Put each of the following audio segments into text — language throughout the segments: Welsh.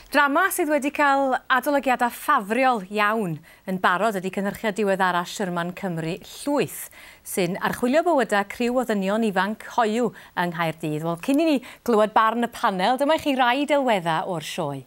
Drama sydd wedi cael adolygiadau ffafriol iawn yn barod ydy cynhyrchiad diweddara Sherman Cymru Llwyth, sy'n archwilio bywydau criw o ddynion ifanc hoyw yng Nghaerdydd. Wel, cyn i ni glywed barn y panel, dyma i chi rai delweddau o'r sioe.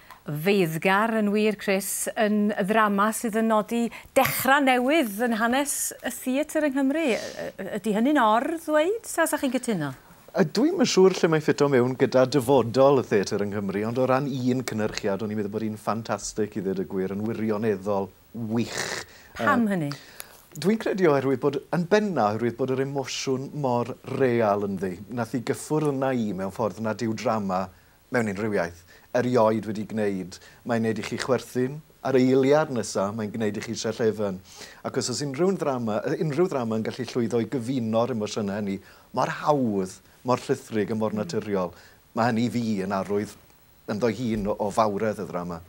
Feiddgar yn wir, Chris, yn ddrama sydd yn nodi dechrau newydd yn hanes y theatr yng Nghymru. Ydy hynny'n or-ddweud, ta 'sa chi'n cytuno? Dw i'm yn siŵr lle mae'n ffito mewn gyda dyfodol y theatr yng Nghymru, ond o ran un cynhyrchiad, o'n i'n meddwl bod hi'n ffantastig, i ddweud y gwir, yn wirioneddol wych. Pam hynny? Dw i'n credu oherwydd bod, yn benna', oherwydd bod yr emosiwn mor real ynddi. Wnaeth hi gyffwrdd arna i mewn ffordd nad yw drama mewn unrhyw iaith, erioed wedi gwneud, mae'n wneud i chi chwerthin, a'r eiliad nesaf, mae'n gwneud i chi sell-efen. Ac os oes unrhyw un ddrama, unrhyw ddrama yn gallu llwyddo i gyfuno'r emosiynau hynny, mor hawdd, mor llithrig a mor naturiol, mae hynny i fi yn arwydd ynddo'i hun o fawredd y ddrama.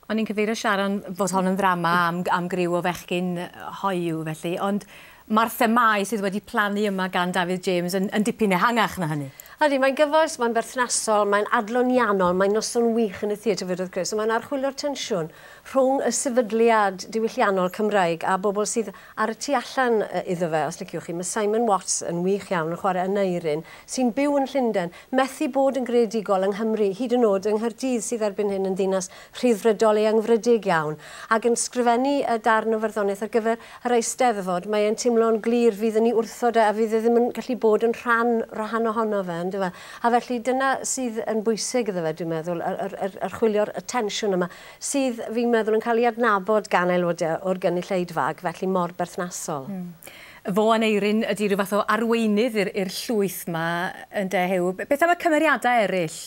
O'n i'n cyfeirio Sharon bod hon yn ddrama am am griw o fechgyn hoyw felly, ond mae'r themâu sydd wedi plannu yma gan Dafydd James yn, yn dipyn ehangach na hynny. Ydy, mae'n gyfoes, mae'n berthnasol, mae'n adloniannol, mae'n noson wych yn y theatr fyd wrth gwrs, a mae'n archwilio'r tensiwn rhwng y sefydliad diwylliannol Cymraeg a bobl sydd ar y tu allan iddo fe, os liciwch chi. Mae Simon Watts yn wych iawn yn chwarae Aneurin, sy'n byw yn Llundain. Methu bod yn greadigol yng Nghymru, hyd yn o'd yng Nghaerdydd sydd erbyn hyn yn ddinas Rhyddfrydol eangfrydig iawn, ac yn sgrifennu y darn o farddoniaeth ar gyfer yr Eisteddfod, mae e'n timlo'n glir fydd yn 'i wrthod e a fydd e ddim yn gallu bod yn rhan rhan ohono fe, on'd yfe? A felly dyna sydd yn bwysig iddo fe, dwi'n meddwl, yr yr yr archwilio'r y tensiwn yma, sydd, fi'n meddwl, yn cael ei adnabod gan aelodau o'r gynulleidfa ac felly mor berthnasol. Fo Aneurin ydi rhyw fath o arweinydd i'r i'r llwyth 'ma ynde Huw? Beth am y cymeriadau eryll?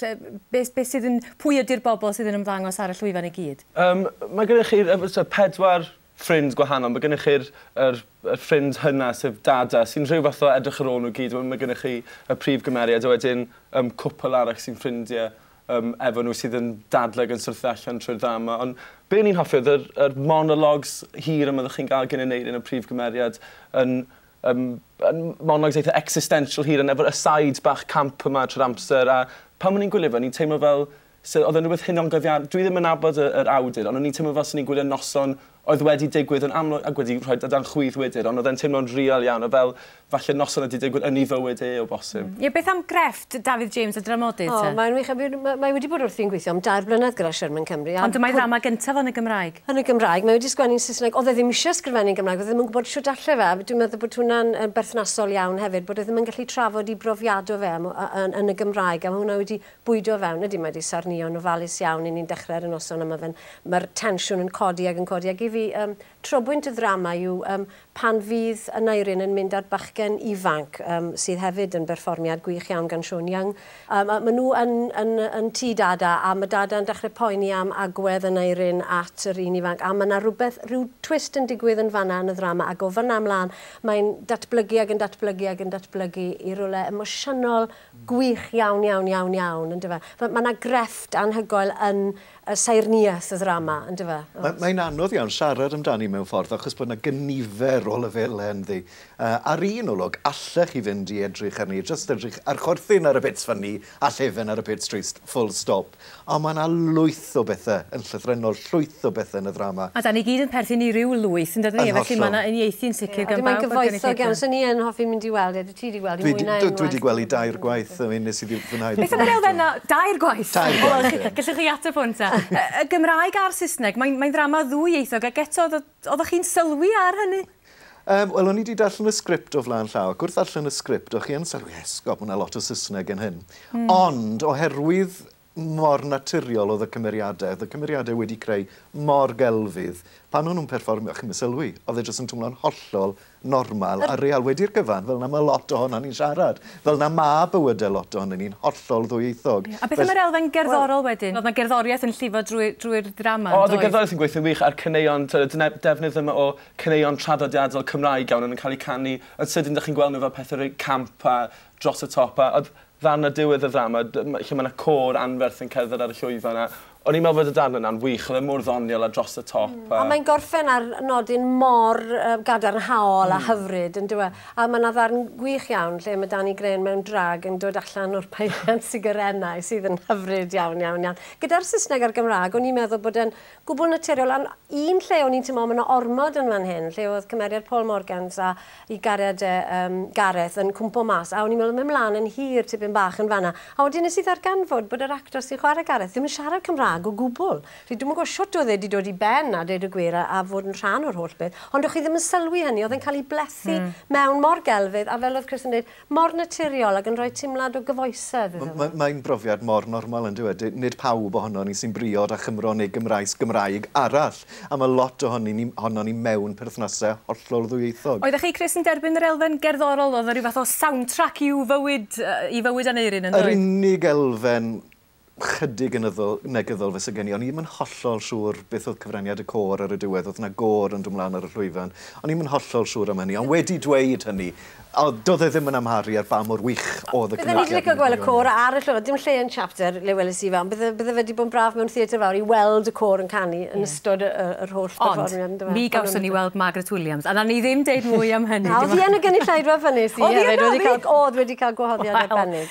Beth beth sydd yn... Pwy ydi'r bobl sydd yn ymddangos ar y llwyfan i gyd? Yym mae gennych chi yy fel t'wod pedwar ffrind gwahanol. Mae gennych chi'r yr y ffrind hynna sef Dada sy'n rhyw fath o edrych ar ôl nhw gyd. Wedyn mae gennych chi y prif gymeriad a wedyn yym cwpwl arall sy'n ffrindie yym, efo nhw sydd yn dadlau ac yn syrthio allan trwy'r ddrama, ond be o'n i'n hoffi oedd yr, yr monologues hir yma oeddech chi'n gael gan Aneurin yn prif gymeriad, yn, yym, yn monologues eitha existential hir, yn efo'r asides bach camp yma trwy'r amser, a pan o'n i'n gwylio fe o'n i'n teimlo fel, se oedd e'n rhywbeth hunangofian- dwi ddim yn nabod y, yr awdur, ond o'n i'n teimlo fel se o'n i'n gwylio Noson oedd wedi digwydd yn amlwg ac wedi rhoi dan chwith wedyn, ond oedd e'n teimlo'n real iawn, a fel falle noson oedd wedi digwydd yn ei fywyd e o bosib. Ie, beth am grefft Dafydd James a dramodydd te? O, mae'n wych, a fi'n, mae wedi bod wrthi'n gweithio am dair blynedd gyda Sherman Cymru. Ond dyma'i ddrama gyntaf yn y Gymraeg. Yn y Gymraeg, mae wedi sgwennu'n Saesneg, oedd e ddim eisiau sgrifennu'n Gymraeg, oedd e ddim yn gwybod shwt alle fe, a dwi'n meddwl bod hwnna'n berthnasol iawn hefyd, bod e ddim yn gallu trafod ei brofiad o fe yn y Gymraeg, a mae hwnna wedi bwydo fewn. Ydy, mae 'di sarnio'n ofalus iawn i ni'n dechrau ar y noson a ma' fe'n... Ma'r tensiwn yn codi ag yn codi ag i fi yym trobwynt y ddrama yw yym pan fydd Aneurin yn mynd â'r bachgen ifanc yym sydd hefyd yn berfformiad gwych iawn gan Sean Young yym a ma' nhw yn yn yn tŷ Dada a ma' Dada yn dechrau poeni am agwedd Aneurin at yr un ifanc a ma' 'na rywbeth rhyw twist yn digwydd yn fan'na yn y ddrama ag o fan'na ymlân mae'n datblygu ag yn datblygu ag yn datblygu i rywle emosiynol Gwych iawn, iawn, iawn, iawn, yn dyfe. Mae ma na grefft anhygoel yn y saerniaeth y ddrama, yn dyfe. Mae mae'n anodd iawn siarad amdani mewn ffordd achos bod na gynifer o lefelau ynddi. Yy ar un olwg, allech chi fynd i edrych arni, jyst edrych ar chorthyn ar y pits ffynni a llefen ar y pits trist, full stop. O mae yna lwyth o bethe yn llythrennol, llwyth o bethe yn y ddrama. A 'dan ni gyd yn perthyn i ryw lwyth, yn dydyn? Yn hollol. Felly mae yna uniaethu yn sicr gan bawb o'r gynulleidfa. Ie, a dwi'n mynd gyfoethog iawn, so ni yn hoffi mynd i weld e, dwyt ti 'di gweld e, mwynau enwau. Dwi 'di gweld hi dair gwaith, I mean, nes i ddim fwynhau Beth am yr elfen 'na, dair gwaith? Tair gwaith, ie. Gellwch chi ateb hwn ta. Y Gymraeg a'r Saesneg, mae'n ddrama ddwyieithog ac eto Oeddech chi'n sylwi ar hynny? Yym, wel, o'n i 'di darllen y sgript o flaen llaw, ac wrth ddarllen y sgript, o'ch chi yn sylwi, esgob, mae yna lot o Saesneg yn hyn. Mm. Ond, oherwydd mor naturiol oedd y cymeriadau, oedd y cymeriadau wedi creu mor gelfydd, pan o'n nhw'n perfformio, chi'm yn sylwi, oedd e jyst yn twmlo'n hollol normal a real wedi'r cyfan, fel 'na ma' lot ohonon ni'n siarad. Fel 'na ma' bywyde lot ohonon ni'n hollol ddwyieithog. Ie, a beth am yr elfen gerddorol wedyn? O'dd 'na gerddoriaeth yn llifo drwy drwy'r ddrama yndoedd? O'dd y gerddoriaeth yn gweithio'n wych a'r caneuon t'od y dene- defnydd yma o caneuon traddodiadol Cymraeg iawn o'n yn ca'l 'u canu yn sydyn 'dych chi'n gweld nw fel pethe rei camp a dros y top a o'dd Ddarn ar diwedd y ddrama d- m- lle mae 'na côr anferth yn cerdded ar y llwyfan a o'n i'n meddwl fod y darn yna'n wych, oedd e mor ddoniol a dros y top a... A mae'n gorffen ar nodyn mor yy gadarnhaol a hyfryd yn dyw e? A mae 'na ddarn gwych iawn lle mae Dani Grahn mewn drag yn dod allan o'r peiriant sigarennau sydd yn hyfryd iawn, iawn, iawn. Gyda'r Saesneg a'r Gymraeg o'n i'n meddwl bod e'n gwbl naturiol ond un lle o'n i'n teimlo ma' 'na ormod yn fan hyn lle o'dd cymeriad Paul Morgans a 'i gariad e yym Gareth yn cwmpo mas a o'n i'n meddwl mynd mlan yn hir tipyn bach yn fanna a wedyn nes i ddarganfod bod yr actor sy'n chware Gareth ddim yn siarad Cymra'g o gwbl felly dwi'm yn gwbo shwt o'dd e 'di dod i ben a deud y gwir a a fod yn rhan o'r holl beth ond o' chi ddim yn sylwi hynny o'dd e'n ca'l 'i blethu mewn mor gelfydd a fel o'dd Chris yn deud Mor naturiol ac yn rhoi teimlad o gyfoesedd iddo fe. Mae'n brofiad mor normal yn dyw e. Nid pawb ohonon ni sy'n briod â Chymro neu Gymraes Gymraeg arall, a mae lot ohonon ni ohonon ni mewn perthnasau hollol ddwyieithog. Oeddech chi, Chris, yn derbyn yr elfen gerddorol, oedd o ryw fath o soundtrack i'w fywyd, i fywyd Aneurin, yn doedd? Yr unig elfen chydig yn yddol, negyddol fyse gen i. O'n i ddim yn hollol siŵr beth oedd cyfraniad y côr ar y diwedd. Oedd yna gôr yn dod mlaen ar y llwyfan. O'n i ddim yn hollol siŵr am hynny. Ond wedi dweud hynny, o, doedd e ddim yn amharu ar ba mor wych oedd y cynulliad. Bydden i 'di licio gweld y côr ar y llwyfan. Dim lle yn Chapter le weles i fe, ond bydde, bydde fe 'di bod yn braf mewn theatr fawr i weld y côr yn canu yn ystod y, y, yr holl berfformiad, yndyfe? Ond, mi gawson ni weld Margaret Williams, a nawn ni ddim deud mwy am hynny. A oedd hi yn y gynulleidfa pan es i hefyd? Oedd hi yno, oedd hi? Oedd wedi cael gwahoddiad arbennig.